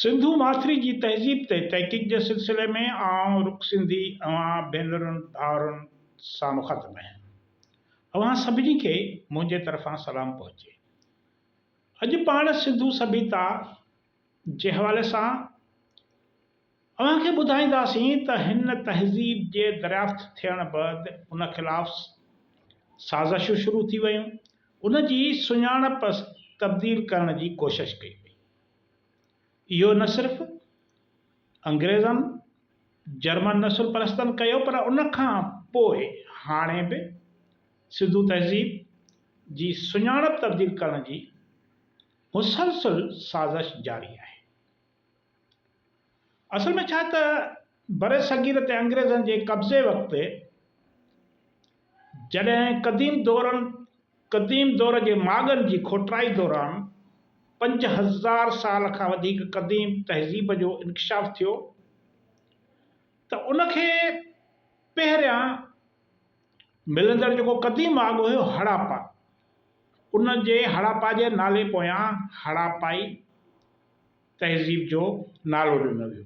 سنڌو ماٿري جي تهذيب تي تحقيق جي سلسلي ۾ آئون رڪ سنڌي اوهان ڀينرن ڀائرن سان مخاطب آهيان. اوهان سڀني کي منهنجي طرفان سلام پهچي. اڄ پاڻ سنڌو سڀيتا جي حوالي سان. اوهان کي ٻڌائينداسين ته هن تهذيب جي دريافت ٿيڻ بعد ان خلاف سازشون شروع ٿي ويون، ان جي سڃاڻپ تبديل ڪرڻ جي ڪوشش ڪئي وئي. اهو نه صرف انگريزن، جرمن نسل پرستن ڪيو پر ان کان پوء هاڻي به سنڌو تهذيب جي سڃاڻپ تبديل ڪرڻ جي مسلسل سازش جاري آهي. اصل ۾ ڇا ته برصغير تي انگريزن جي قبضي وقت جڏهن قديم دورن قديم دور جي ماڳن جي کوٽرائي دوران پنج هزار سال کان وڌيڪ قديم تهذيب جو انڪشاف ٿيو ته ان کي پهريان ملندڙ جيڪو قديم ماڳ هيو هڙاپا ان جي هڙاپا جي نالي پويان هڙاپائي تهذيب جو نالو ڏنو ويو.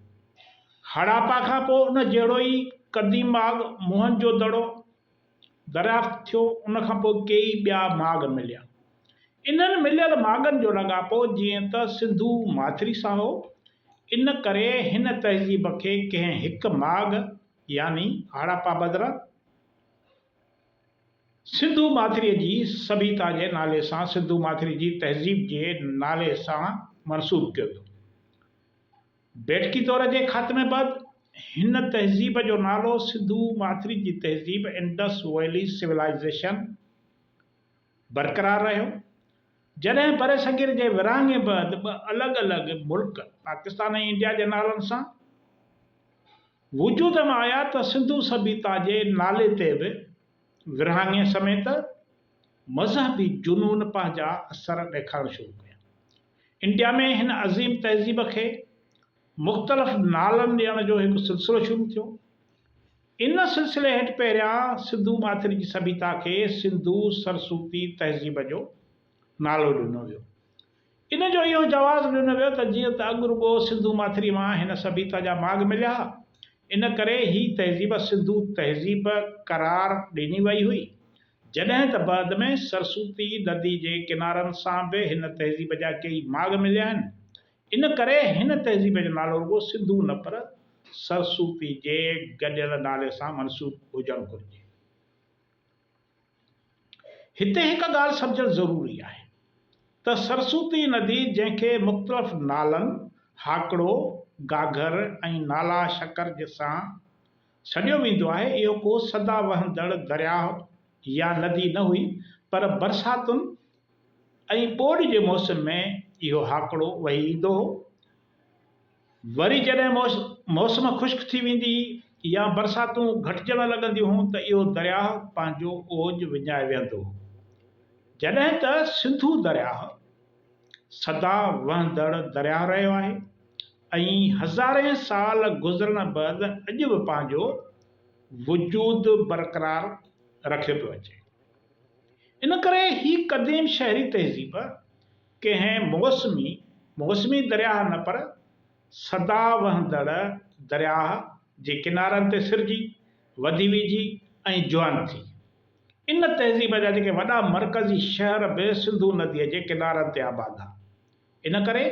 هڙاپا کان پوء ان جهڙو ئي قديم ماڳ موهن جو دڙو دريافت ٿيو، ان کان پوء ڪيئي ٻيا ماڳ مليا. انهن مليل ماڳن جو لاڳاپو جيئن ته سنڌو ماٿري سان هو، ان ڪري هن تهذيب کي ڪنهن هڪ ماڳ يعني هڙاپا بدران، سنڌو ماٿريء جي سڀيتا جي نالي سان سنڌو ماٿري جي تهذيب جي نالي سان منسوب ڪيو ويو. بيٺڪي دور جي خاتمي بعد هن تهذيب جو نالو سنڌو ماٿري جي تهذيب، Indus Valley Civilization، برقرار رهيو. جڏهن برصغير جي ورهاڱي بعد ٻه الڳ الڳ ملڪ پاڪستان ۽ انڊيا جي نالن سان، وجود ۾ آيا ته سنڌو سڀيتا جي نالي تي به ورهاڱي سميت مذهبي جنون پنهنجا اثر ڏيکارڻ شروع ڪيا. انڊيا ۾ هن عظيم تهذيب کي مختلف نالن ڏيڻ جو هڪ سلسلو شروع ٿيو. ان سلسلي هيٺ پهريان سنڌو ماٿري جي سڀيتا کي سنڌو سرسوتي تهذيب جو نالو ڏنو ويو. ان جو اهو جواز ڏنو ويو ته جيئن ته اڳ رڳو سنڌو ماٿري مان هن سڀيتا جا ماڳ مليا ها، ان ڪري هي تهذيب سنڌو تهذيب قرار ڏني وئي هئي، جڏهن ته بعد ۾ سرسوتي ندي جي ڪنارن سان به هن تهذيب جا ڪيئي ماڳ مليا آهن، ان ڪري هن تهذيب جو نالو رڳو سنڌو نه پر سرسوتي جي گڏيل نالي سان منسوب هجڻ گهرجي. هتي هڪ ڳالهه سمجهڻ ضروري آهي ته سرسوتي ندي جنهن کي مختلف نالن هاڪڙو، گاگهر ۽ نالا شڪر جسان سڏيو ويندو آهي اهو ڪو سدا وهندڙ درياهه يا ندي نه هئي پر برساتن ۽ ٻوڏ جي موسم ۾ اهو هاڪڙو وهي ايندو هو وري جڏهن موسم خشڪ ٿي ويندي يا برساتون گهٽجڻ لڳنديون ته اهو درياهه پنهنجو اوج وڃائي ويهندو هو جڏهن ته سنڌو درياهه سدا وهندڙ درياهه رهيو آهي ۽ هزارين سال گذرڻ بعد اڄ به پنهنجو وجود برقرار رکيو پيو اچي ان ڪري هي قديم شهري تهذيب ڪنهن موسمي، موسمي درياهه نه پر سدا وهندڙ درياهه جي ڪنارن تي سرجي، وڌي ويجهي ۽ جوان ٿي. ان تهذيب جا جيڪي وڏا مرڪزي شهر به سنڌو نديء جي ڪنارن تي آباد ها. ان ڪري.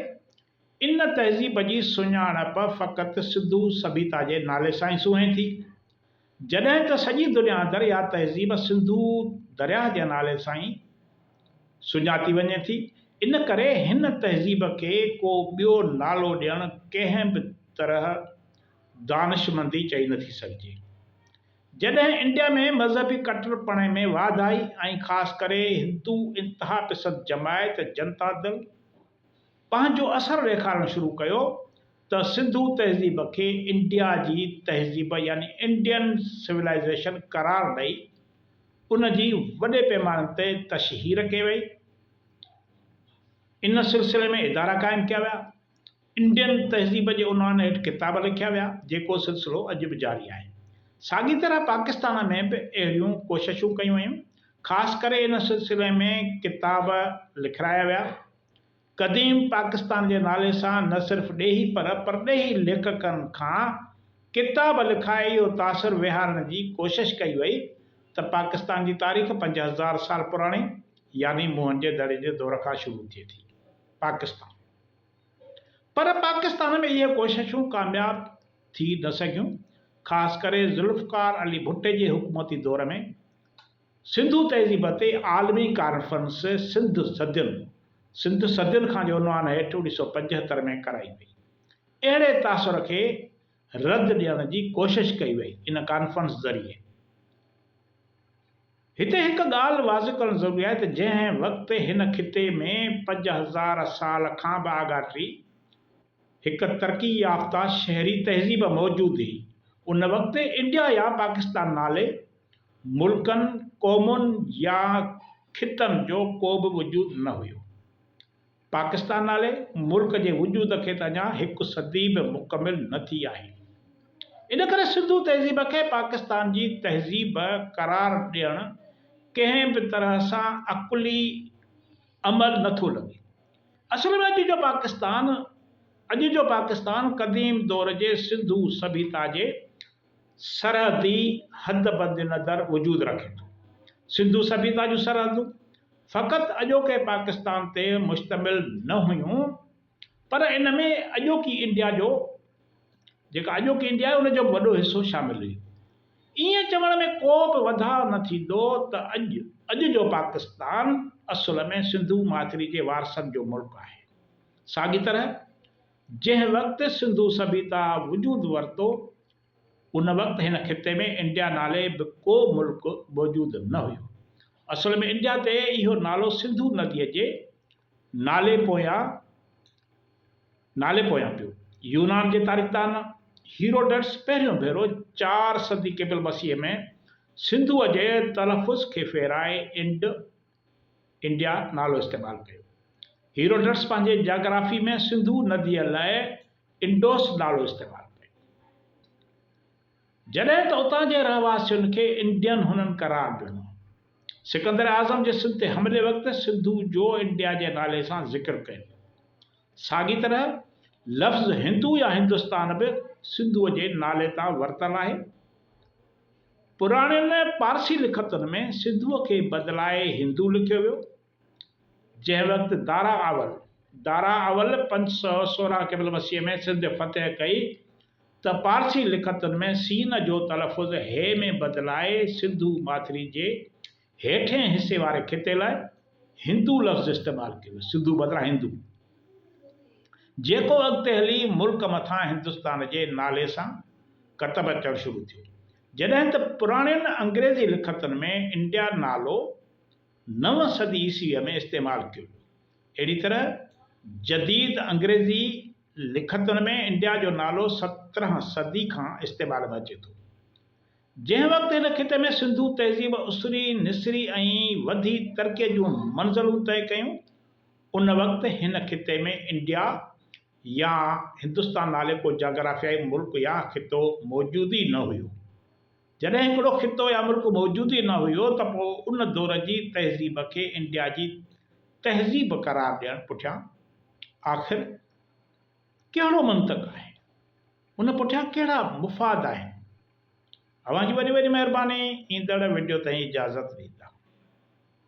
ان تهذيب جي سڃاڻپ فقط سنڌو سڀيتا جي نالي سان ئي سونهين ٿي، جڏهن ته سڄي دنيا اندر اها تهذيب سنڌو درياهه جي نالي سان ئي سڃاتي وڃي ٿي، ان ڪري هن تهذيب کي ڪو ٻيو نالو ڏيڻ ڪنهن به طرح دانشمندي چئي نه ٿي سگهجي. جڏهن انڊيا ۾ مذهبي ڪٽرپڻي ۾ واڌ آئي ۽ خاص ڪري هندو انتها پسند جماعت جنتا دل، پنهنجو اثر ڏيکارڻ شروع ڪيو ته سنڌو تهذيب کي انڊيا جي تهذيب يعني انڊين سولائيزيشن قرار ڏئي ان جي وڏي پيماني تي تشهير ڪئي وئي. ان سلسلي ۾ ادارا قائم ڪيا ويا. انڊين تهذيب جي عنوان هيٺ ڪتاب لکيا ويا، جيڪو سلسلو اڄ به جاري آهي. ساڳي طرح پاڪستان ۾ به اهڙيون ڪوششون ڪيون ويون. خاص ڪري ان سلسلي ۾ ڪتاب لکرايا ويا. قديم پاڪستان جي نالي سان نه صرف ڏيهي پر پرڏيهي ليکڪن کان ڪتاب لکائي اهو تاثر ويهارڻ جي ڪوشش ڪئي وئي ته پاڪستان جي تاريخ پنج هزار سال پراڻي يعني موهن جي دڙي جي دور کان شروع ٿئي ٿي پاڪستان پر پاڪستان ۾ اهي ڪوششون ڪامياب ٿي نه سگهيون خاص ڪري ذوالفقار علي ڀٽي جي حڪومتي دور ۾ سنڌو تهذيب تي عالمي ڪانفرنس سنڌ صدين، سنڌ صدين کان جي عنوان هيٺ اڻيهه سؤ پنجهتر ۾ ڪرائي وئي. اهڙي تاثر کي رد ڏيڻ جي ڪوشش ڪئي وئي ان ڪانفرنس ذريعي. هتي هڪ ڳالهه واضح ڪرڻ ضروري آهي ته جنهن وقت هن خطي ۾ پنج هزار سال کان به آڳاٽي هڪ ترقي يافته شهري تهذيب موجود هئي ان وقت انڊيا يا پاڪستان نالي ملڪن، قومن يا خطن جو ڪو به وجود نه هيو. پاڪستان نالي ملڪ جي وجود کي ته اڃا هڪ صدي به مڪمل نه ٿي آهي. ان ڪري سنڌو تهذيب کي پاڪستان جي تهذيب قرار ڏيڻ ڪنهن به طرح سان عقلي عمل نه ٿو لڳي. اصل ۾ اڄ جو پاڪستان اڄ جو پاڪستان قديم دور جي سنڌو سڀيتا جي سرحدي حد بند نظر وجود رکي ٿو. سنڌو سڀيتا جون سرحدون فقط اڄوڪي پاڪستان تي مشتمل نه هيون پر ان ۾ اڄوڪي انڊيا جو جيڪا اڄوڪي انڊيا آهي ان جو به وڏو حصو شامل هيو. ائين چوڻ ۾ ڪو به وڌاء نه ٿيندو ته اڄ اڄ جو پاڪستان اصل ۾ سنڌو ماٿري جي وارثن جو ملڪ آهي. ساڳي طرح. جنهن وقت سنڌو سڀيتا وجود ورتو، ان وقت هن خطي ۾ انڊيا نالي به ڪو ملڪ موجود نه هيو. اصل ۾ انڊيا تي اهو نالو سنڌو نديء جي نالي پويان نالي پويان پيو. يونان جي تاريخدان هيروڊٽس پهريون ڀيرو چار صدي قبل مسيح ۾ سنڌوء جي تلفظ کي ڦيرائي انڊ، انڊيا نالو استعمال ڪيو. هيروڊٽس پنهنجي جاگرافي ۾ سنڌو نديء لاء انڊوس نالو استعمال ڪيو. جڏهن ته اتان جي رهواسين کي انڊين هنن قرار ڏنو. سڪندر اعظم جي سنڌ تي حملي وقت سنڌو جو انڊيا جي نالي سان ذڪر ڪيو. ساڳي طرح لفظ هندو يا هندستان به سنڌوء جي نالي تان ورتل آهي. پراڻين پارسي لکتن ۾ سنڌوء کي بدلائي هندو لکيو ويو، جنهن وقت دارا اول، Dara Awal، پنج سؤ سورهن قبل مسيح ۾ سنڌ فتح ڪئي ته پارسي لکتن ۾ سين جو تلفظ هي ۾ بدلائي سنڌو ماٿري جي هيٺئين حصي واري خطي لاء هندو لفظ استعمال ڪيو ويو، سنڌو بدران هندو، جيڪو اڳتي هلي ملڪ مٿان هندستان جي نالي سان ڪتب اچڻ شروع ٿيو، جڏهن ته پراڻين انگريزي لکتن ۾ انڊيا نالو نو صدي عيسويء ۾ استعمال ڪيو ويو. اهڙي طرح جديد انگريزي لکتن ۾ انڊيا جو نالو سترهن صدي کان استعمال ۾ اچي ٿو. جنهن وقت هن خطي ۾ سنڌو تهذيب اسري، نسري ۽ وڌي ترقيء جون منزلون طئي ڪيون، ان وقت هن خطي ۾ انڊيا يا هندستان نالي ڪو جاگرافيائي ملڪ يا خطو موجود ئي نه هيو. جڏهن هڪڙو خطو يا ملڪ موجود ئي نه هيو ته پوء ان دور جي تهذيب کي انڊيا جي تهذيب قرار ڏيڻ پٺيان آخر ڪهڙو منطق آهي؟ ان پٺيان ڪهڙا مفاد آهن؟ اوهان جي وڏي وڏي مهرباني ايندڙ وڊيو تائين اجازت ڏيندا.